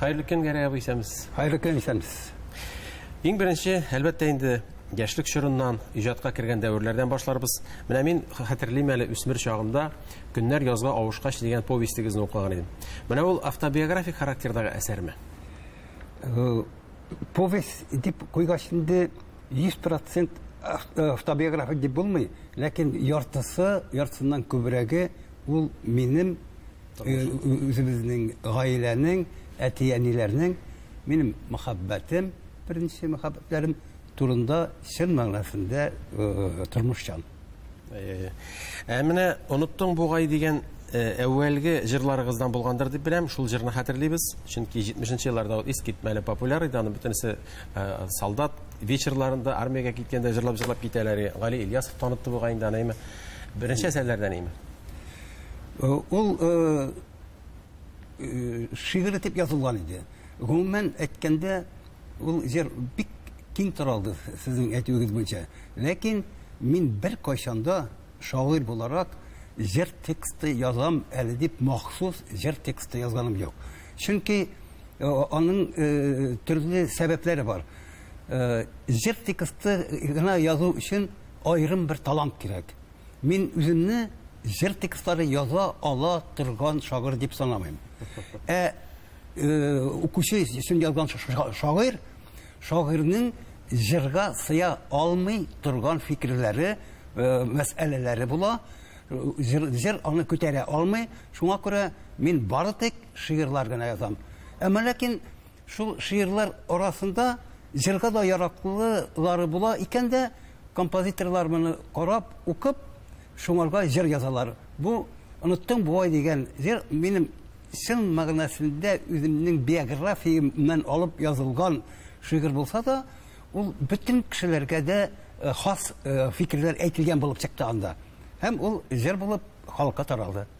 Хәерле көн, Гәрәй абый, исәнмесез. Хәерле көн, исәнмесез. Иң беренче, әлбәттә инде, яшьлек чорыннан, иҗатка кергән дәверләрдән башларбыз. Менә мин хәтерлим әле үсмер чагымда Көннәр язга авышкач дигән повестегезне укыган идем. Менә ул автобиографик характердагы әсәрме? Э, повесть дип куйгач инде 100% э, автобиографик дип булмый, ләкин яртысы, яртысыннан күбрәге ул минем үзебезнең гаиләнең, әти-әниләрнең минем мәхәббәтем, беренче мәхәббәтләрем турында чын мәгънәсендә тормышчан. Ә менә оныттың бугай дигән әүвәлге җырларыгыздан булгандыр дип беләм. Шул җырны хәтерлибез. Чөнки 70 елларда ул искитмәле популяр иде. Аны бөтенесе солдат вечерларында армиягә киткәндә җырлап-җырлап китәләр. Гали Ильясов танытты бугай инде аны, әйме? Беренче әсәрләрдән, әйме? Э, ул э, э, шигырь итеп язылган иде. Гомумән әйткәндә, ул җыр бик киң таралды сезнең әйтүегез буенча. Ләкин мин бер кайчанда шагыйрь буларак җыр тексты язам әле дип махсус җыр тексты язганым юк. Чөнки аның төрле сәбәпләре бар. Җыр тексты гына язу өчен аерым бер талант кирәк. Мин үземне җыр текстлары яза ала торган шагыйрь дип санамыйм. Ә укучы өчен язган шагыйрь, шагыйрьнең җырга сыя алмый торган фикерләре, мәсьәләләре була. Җыр, җыр аны күтәрә алмый. Шуңа күрә мин бары тик шигырьләр генә язам. Әмма ләкин шул шигырьләр арасында җырга да яраклылары була икән дә, Композиторлар моны карап, укып, шуңарга җыр язалар. Бу Оныттың буай дигән җыр минем чын мәгънәсендә үземнең биографиямнан алып язылган шигырь булса да, ул бөтен кешеләргә дә хас фикерләр әйтелгән булып чыкты анда. Һәм ул җыр булып халыкка таралды.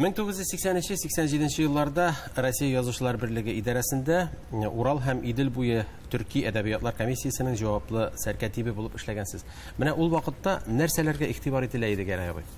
Мең тугыз йөз сиксән өче сиксән җиденче елларда Россия язучылар берлеге идарәсендә э, Урал һәм Идел буе төрки әдәбиятлар комиссиясенең җаваплы сәркәтибе булып эшләгәнсез. Менә ул вакытта нәрсәләргә игътибар ителә иде Гәрәй абый?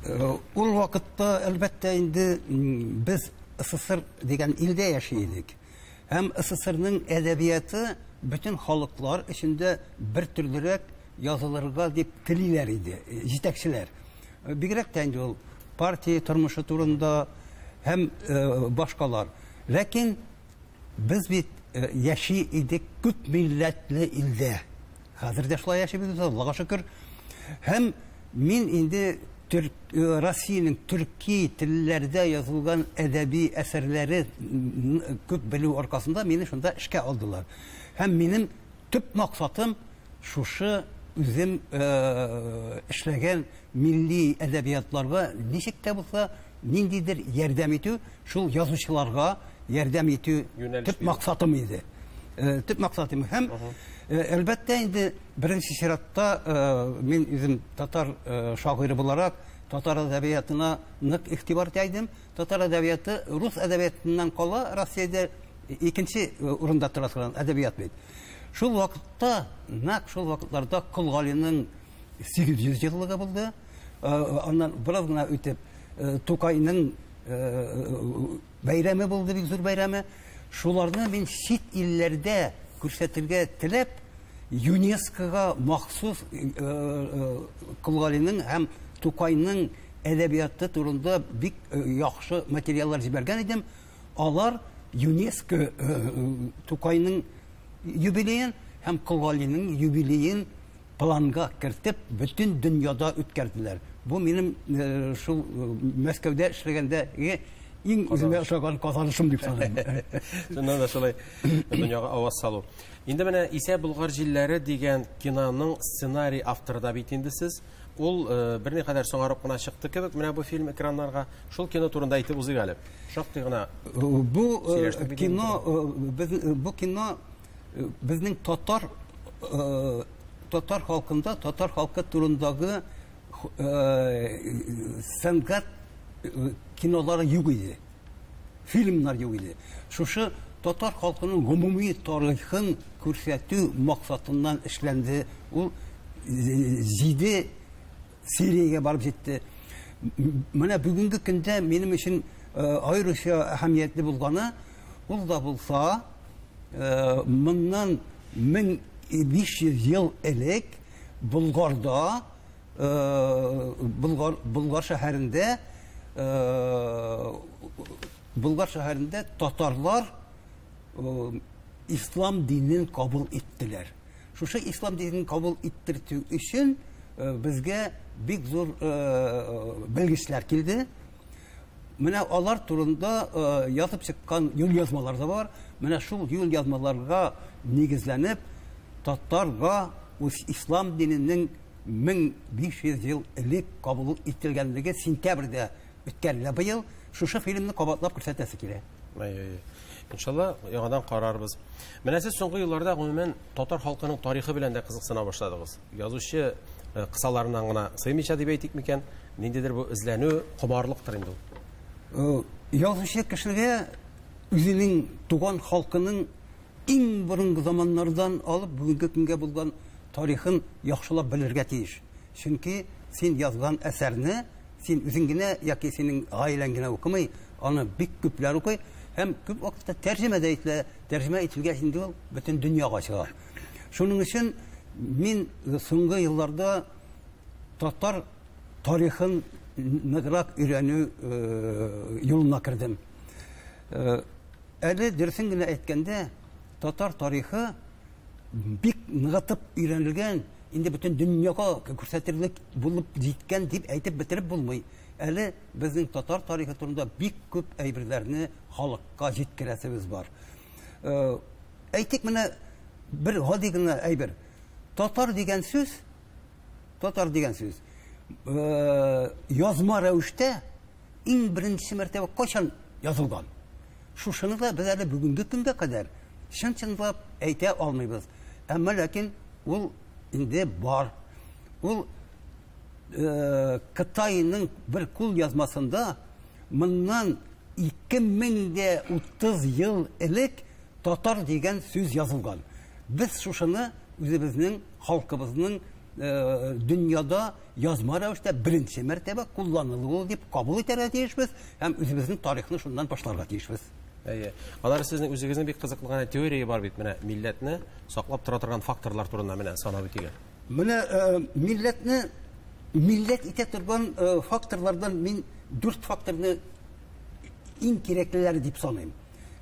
Э, ул вакытта, әлбәттә, инде без СССР дигән илдә яши идек. Һәм СССРның әдәбияты бөтен халыклар эчендә бер төрлерәк язылырга дип телиләр иде җитәкчеләр. Бигрәк тә инде ул партия тормышы турында һәм башкалар. Ләкин без бит яши идек күп милләтле илдә. Хәзер дә шулай яшибез без, Аллага шөкер. Һәм мин инде Төрк, э, Россиянең төрки телләрдә язылган әдәби әсәрләре күп белү аркасында мине шунда эшкә алдылар. Һәм минем төп максатым шушы үзем э, эшләгән милли әдәбиятларга ничек тә булса ниндидер ярдәм итү Шул язучыларга ярдәм итү төп максатым иде. Э, төп максатым һәм э, әлбәттә инде беренче чиратта э, мин үзем татар шагыйре буларак татар әдәбиятына нык игътибар итә идем. Татар әдәбияты рус әдәбиятыннан кала Россиядә икенче урында тора торган әдәбият бит. Шул вакытта, нәкъ шул вакытларда Кол Галинең 800 еллыгы булды. Аннан бераз гына үтеп, Тукайның бәйрәме булды, бик зур бәйрәме. Шуларны мин чит илләрдә күрсәтергә теләп, ЮНЕСКОга махсус Колгалинең һәм Тукайның әдәбияты турында бик яхшы материаллар җибәргән идем. Алар ЮНЕСКО Тукайның юбилеен һәм Колгалинең юбилеен планга кертеп, бөтен дөньяда үткәрделәр. Бу минем э, шул э, Мәскәүдә эшләгәндәге иң үземә ошаган казанышым дип саныйм. Шуннан да шулай дөньяга аваз салу. Инде менә Исә Болгар җилләре дигән киноның сценарий авторы да бит инде сез. Ул э, берникадәр соңарып кына чыкты кебек, менә бу фильм экраннарга. Шул кино турында әйтеп узыйк әле. Шактый гына Бу э, сөйләштек бит кино э, без- э, бу кино Э, безнең татар э, татар халкында татар халкы турындагы э, сәнгать кинолары юк иде фильмнар юк иде шушы татар халкының гомуми тарихын күрсәтү максатыннан эшләнде ул җиде Сириягә барып җитте. Менә бүгенге көндә минем өчен э, аеруча әһәмиятле булганы, ул да булса, э, моннан 1500 ел элек Болгарда, э, Болгар, Болгар шәһәрендә, Болгар шәһәрендә татарлар ислам динен кабул иттеләр. Шушы ислам динен кабул иттертү өчен безгә бик зур белгечләр килде. Менә алар турында язып чыккан юл язмалар да бар. Менә шул юл язмаларга нигезләнеп, татарга үз ислам диненең 1500 ел элек кабул ителгәнлеге сентябрьдә үткән менә быел шушы фильмны кабатлап күрсәтәсе килә әй әй иншалла яңадан карарбыз менә сез соңгы елларда гомумән татар халкының тарихы белән дә кызыксына башладыгыз язучы э, кысаларына гына сыймыйча дип әйтик микән ниндидер бу эзләнү комарлыктыр инде ул язучы кешегә үзенең туган халкының иң борынгы заманнардан алып бүгенге көнгә булган тарихын яхшылап белергә тиеш Чөнки син язган әсәрне син үзең генә яки синең гаиләң генә укымый, аны бик күпләр укый һәм күп вакытта тәрҗемә дә ителә. Тәрҗемә ителгәч инде ул бөтен дөньяга чыга. Шуның өчен мин соңгы елларда татар тарихын ныграк өйрәнү юлына кердем. Әле дөресен генә әйткәндә, татар тарихы бик ныгытып өйрәнелгән, инде бөтен дөньяга күрсәтерлек булып җиткән дип әйтеп бетереп булмый. Әле безнең татар тарихы турында бик күп әйберләрне халыкка җиткерәсебез бар. Э, әйтик менә бер гади генә әйбер. Татар дигән сүз, татар дигән сүз, э, язма рәвештә иң беренче мәртәбә кайчан язылган? Шушыны да без әле бүгенге көнгә кадәр чын-чынлап әйтә алмыйбыз. Әмма ләкин ул инде бар. Ул э, Кытайның бер кул язмасында моннан 2030 ел элек татар дигән сүз язылган. Без шушыны үзебезнең халкыбызның э, дөньяда язма рәвештә беренче мәртәбә кулланылу ул дип кабул итәргә тиешбез һәм үзебезнең тарихны шуннан башларга тиешбез. Әйе. Алар сезнең үзегезнең бик кызыклы гына теория бар бит менә милләтне саклап тора торган факторлар турында менә санап үтигә. Менә э, милләтне милләт итә торган э, факторлардан мин дүрт факторны иң кирәклеләре дип саныйм.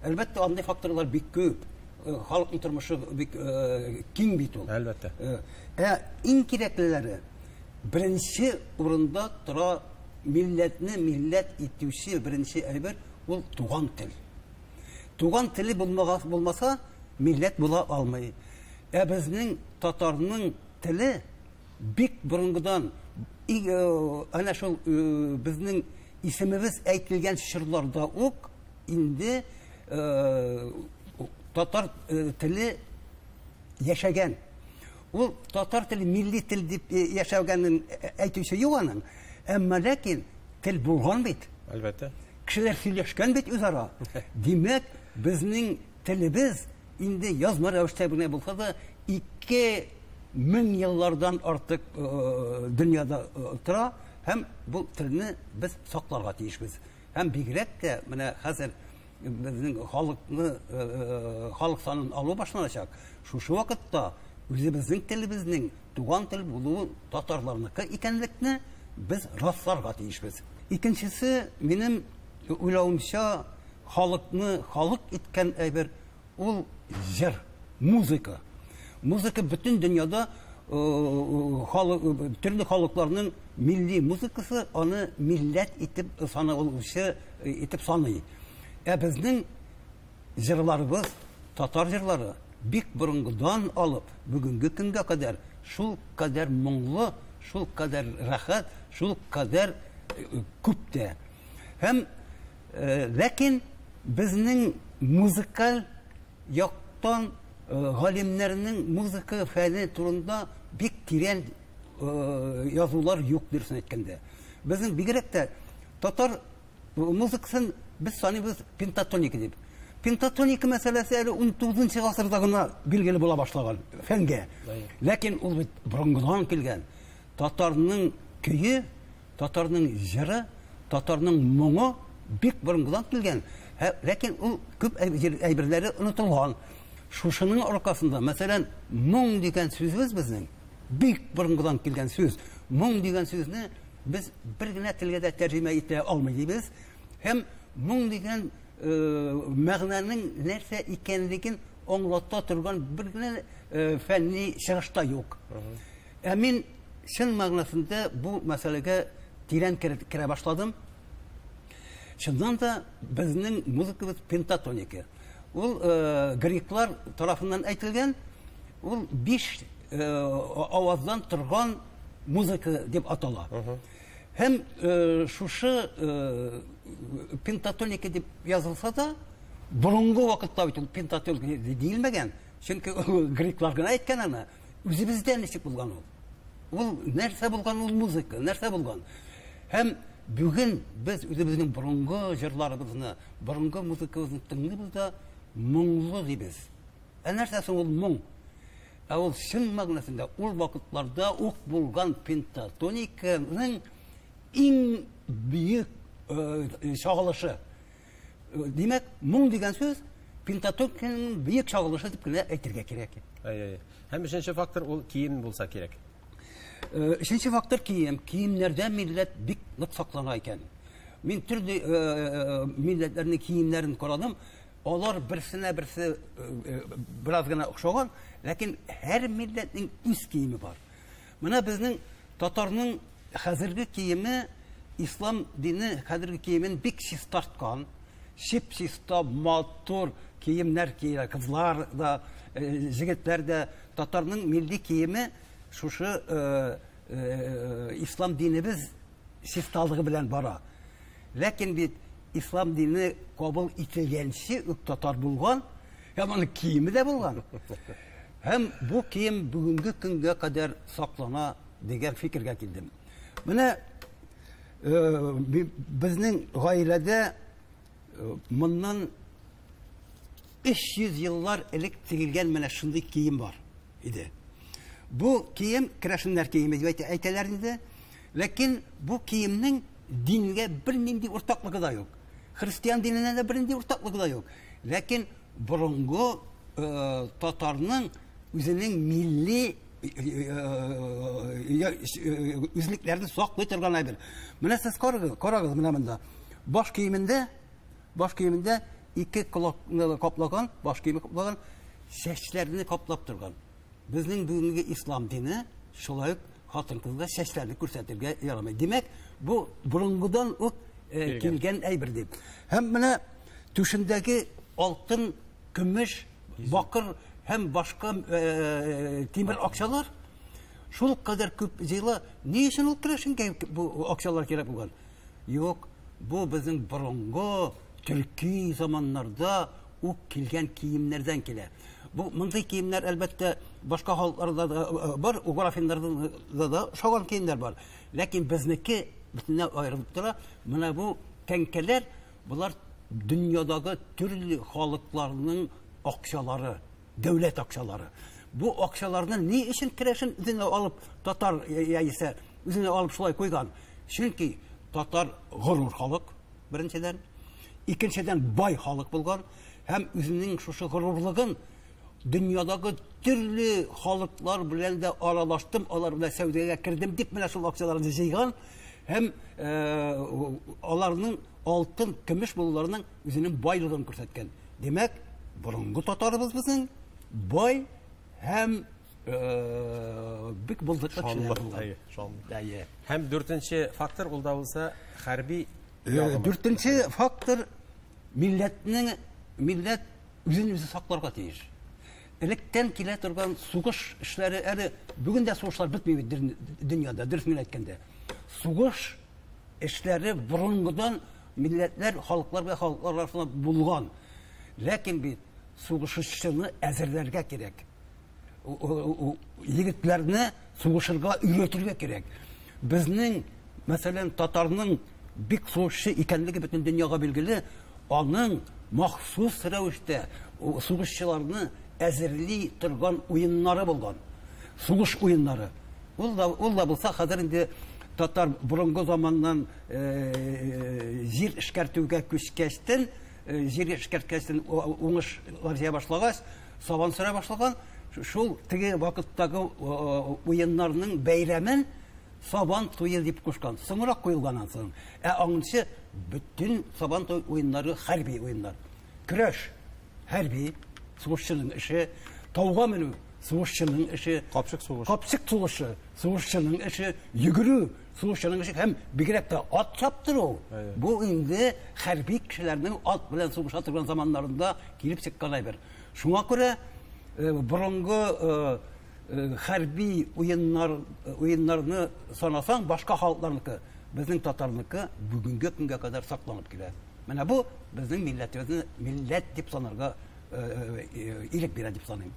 Әлбәттә, андый факторлар бик күп. Э, халыкның тормышы бик э, киң бит ул. Әлбәттә. Э, ә иң кирәклеләре беренче урында тора милләтне милләт итүче беренче әйбер ул туган тел. Туган теле булмагас булмаса, милләт була алмый. Ә безнең татарның теле бик борынгыдан әнә шул безнең исемебез әйтелгән чорларда ук инде татар теле яшәгән. Ул татар теле милли тел дип яшәгәнен әйтүче юк аның. Әмма ләкин тел булган бит. Әлбәттә. Кешеләр сөйләшкән бит үзара. Димәк, безнең телебез инде язма рәвештә генә булса да 2000 еллардан артык дөньяда тора һәм бу телне без сакларга тиешбез. Һәм бигрәк тә менә хәзер безнең халыкны халык санын алу башланачак. Шушы вакытта үзебезнең телебезнең туган тел булуы татарларныкы икәнлекне без расларга тиешбез. Икенчесе, минем уйлавымча, халыкны халык иткән әйбер Ул җыр, музыка. Музыка бөтен дөньяда төрле халыкларның милли музыкасы аны милләт итеп саналучы итеп саный. Ә безнең җырларыбыз, татар җырлары бик борынгыдан алып, бүгенге көнгә кадәр шул кадәр моңлы, шул кадәр рәхәт, шул кадәр күп тә. Һәм Ләкин безнең музыкаль яктан галимнәрнең музыка фәне турында бик тирән язулар юк, дөресен әйткәндә. Безнең бигрәк тә татар музыкасын без саныйбыз пентатоника дип. Пентатоника мәсьәләсе әле унтугызынчы гасырда гына билгеле була башлаган фәнгә. Ләкин ул бит борынгыдан килгән. Татарның көе Татарның җыры, татарның моңы бик борынгыдан килгән, һә, ләкин ул күп әйб- әйберләре онытылган. Шушының аркасында, мәсәлән, моң дигән сүзебез безнең бик борынгыдан килгән сүз. Моң дигән сүзне без бер генә телгә дә тәрҗемә итә алмый дибез һәм моң дигән э, мәгънәнең нәрсә икәнлеген аңлата торган бер генә э, фәнни чыгыш та юк. Ә мин чын мәгънәсендә бу мәсьәләгә тирән кереп керә башладым. Чыннан да, безнең музыкабыз пентатоника. Ул греклар тарафыннан әйтелгән, ул биш аваздан торган музыка дип атала. Һәм шушы пентатоника дип язылса да, борынгы вакытта бит ул пентатоника диелмәгән, чөнки греклар гына әйткән аны. Үзебездә ничек булган ул? Ул нәрсә булган ул музыка, нәрсә булган? Һәм бүген без үзебезнең борынгы җырларыбызны, борынгы музыкабызны тыңлыйбыз да моңлы дибез. Ә нәрсә соң ул моң? Ә ул чын мәгънәсендә ул вакытларда ук булган пентатониканың иң бөек чагылышы. Димәк, моң дигән сүз пентатонканың бөек чагылышы дип кенә әйтергә кирәк. Әй, әй. Һәм өченче фактор ул кием булса кирәк. Э, өченче фактор кием. Киемнәрдә милләт бик нык саклана икән. Мин төрле э, э, милләтләрнең киемнәрен карадым. Алар берсенә берсе бераз гына охшаган, ләкин һәр милләтнең үз киеме бар. Менә безнең татарның хәзерге киеме ислам дине хәзерге киемен бик чистарткан. Чип-чиста, матур киемнәр киелә. Кызлар да, э, җегетләр дә татарның милли киеме шушы э, э, ислам динебез чисталыгы белән бара. Ләкин бит ислам дине кабул ителгәнче үк татар булган, Һәм аның киеме дә булган. Һәм бу кием бүгенге көнгә кадәр саклана дигән фикергә килдем. Менә э, безнең гаиләдә э, моннан 300 еллар элек тигелгән менә шундый кием бар иде. Бу кием керәшеннәр киеме дип әйтәләр инде. Ләкин бу киемнең дингә бернинди уртаклыгы да юк. Христиан диненә дә бернинди уртаклыгы да юк. Ләкин борынгы э, татарның үзенең милли үзлекләрне саклый торган әйбер. Менә сез карагыз, карагыз менә монда. Баш киемендә, баш киемендә ике кулак каплаган, баш киеме каплаган, чәчләрне каплап торган. Безнең бүгенге ислам дине шулай ук хатын-кызга чәчләрне күрсәтергә ярамый. Димәк, бу борынгыдан ук э, килгән әйбер дип. Һәм менә түшендәге алтын, көмеш, бакыр һәм башка э, тимер акчалар шул кадәр күп җыела. Ни өчен ул керәшенгә бу акчалар кирәк булган? Юк, бу безнең борынгы төрки заманнарда ук килгән киемнәрдән килә. Бу мондый киемнәр әлбәттә башка халыкларда да э, бар, угор афиннарда да шаган киемнәр бар. Ләкин безнеке бөтенләй аерылып тора. Менә бу тәңкәләр, болар дөньядагы төрле халыкларның акчалары, дәүләт акчалары. Бу акчаларны ни өчен керәшен үзенә алып татар яисә үзенә алып шулай куйган? Чөнки татар горур халык, беренчедән, икенчедән бай халык булган, Һәм үзенең шушы горурлыгын дөньядагы төрле халыклар белән дә аралаштым, алар белән сәүдәгә кердем дип менә шул акцияләрне җыйган һәм э, аларның алтын, көмеш булуларының үзенең байлыгын күрсәткән. Димәк, борынгы татарыбыз безнең бай һәм э, бик булдыклы кешеләр булган. Һәм дүртенче фактор ул да булса хәрби. Э, дүртенче фактор Милләтнең милләт үзен үзе сакларга тиеш. Электән килә торган сугыш эшләре әле бүген дә сугышлар бетми бит дөньяда, дөрес мин әйткәндә. Сугыш эшләре борынгыдан милләтләр, халыклар белән халыклар арасында булган. Ләкин бит сугышчыны әзерләргә кирәк. егетләрне сугышырга өйрәтергә кирәк. Безнең, мәсәлән, татарның бик сугышчы икәнлеге бөтен дөньяга билгеле, аның махсус рәвештә сугышчыларны әзерли торган уеннары булган. Сугыш уеннары. Ул да, ул да булса хәзер инде татар борынгы заманнан э, җир эшкәртүгә күчкәчтен, э, җир эшкәрткәчтен уңыш җыя башлагач, Сабан сөрә башлаган шул теге вакыттагы уеннарның бәйрәмен сабан туе дип кушкан. Соңрак куелган ансын. Ә аңынчы бөтен сабан туй уеннары хәрби уеннар. Көрәш хәрби сугышчының эше, тауга менү сугышчының эше, капчык сугышы, капчык сугышы сугышчының эше, йөгерү Сугышчының эше һәм бигрәк тә ат чаптыру, бу инде хәрби кешеләрнең ат белән сугыша торган заманнарында килеп чыккан әйбер. Шуңа күрә э, борынгы э, э, хәрби уеннар, уеннарны санасаң, башка халыкларныкы, безнең татарныкы бүгенге көнгә кадәр сакланып килә. Менә бу безнең милләтебезне милләт дип санарга ирек бирә дип саныйм.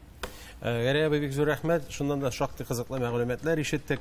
Гәрәй абый, бик зур рәхмәт. Шуннан да шактый кызыклы мәгълүматлар ишеттек.